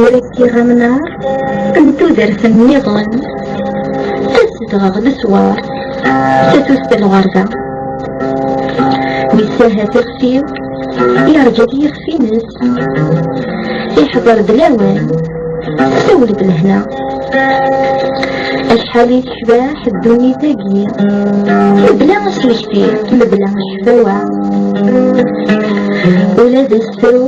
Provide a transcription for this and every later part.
Ur as-yeɣ amnar n tudert-n nniḍen, tasedɣeɣ leswar, tatut d lɣerba. Wis ahat ixef-iw, yerǧa-d yixef-ines, iḥḍer-d lawan, tessawel-d lehna. Acḥal i tecbeḥ ddunit-agi, mebla asmekti, mebla cfawa. Ula d asefru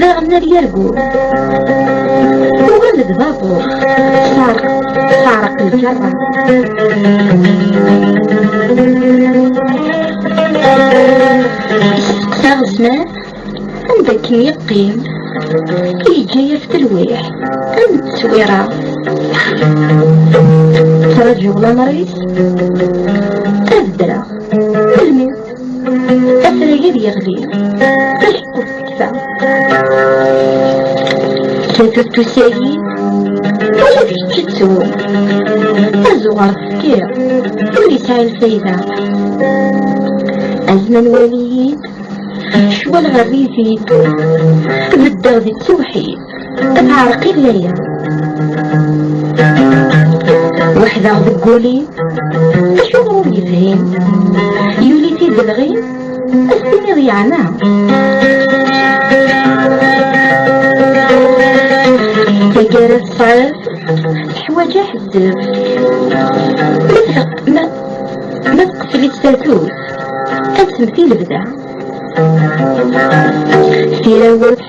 daɣen ar yargul tuɣal-d babuṛ teɛreq teɛreq lǧerra isteqsa Ɛusman anda akken yeqqim yeǧǧa-yas telwiḥ am tteswira ttṛaǧuɣ lameṛ-is ad ddreɣ afrag-id yeɣli taceqquft tekfa tatuttus-agi ala tkettett-ttu azuɣer tefkiḍ ur yesɛi lfayda azman wali-yi-d cwal ɣer rrid-id beddeɣ di tewḥid Ad teɛreq i laya Weḥdeɣ deg wuli Acu ur yefhim Yuli tidelɣi Ad s-tiniḍ yeɛna Taggara tesɛiḍ Teḥwaǧ aḥeddef Ma ma teqfel-itt tatut Ad temti lebda Tira ur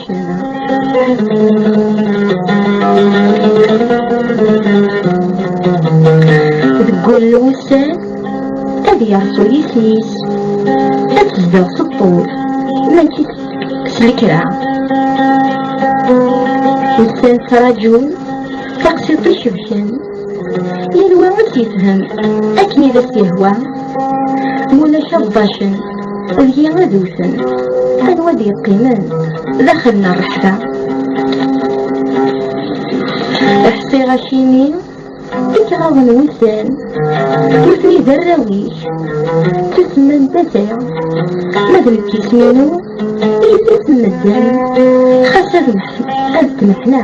Deg wul wussan ad yerṣu yisem-is ad tezdeɣ s ṭṭul mačči s lekra ussan ttraǧun taqsiṭ icebḥen yal wa ad t-yefhem akken i d as-yehwa mulac aḍḍacen deg-i ad wten anwa ad yeqqimen daxel n rreḥba ḥsiɣ acimi i kraḍ n wussan nutni d arraw-ik ttasemman tata ma d nekk isem-inu i d-ttasemman xas ad temḥna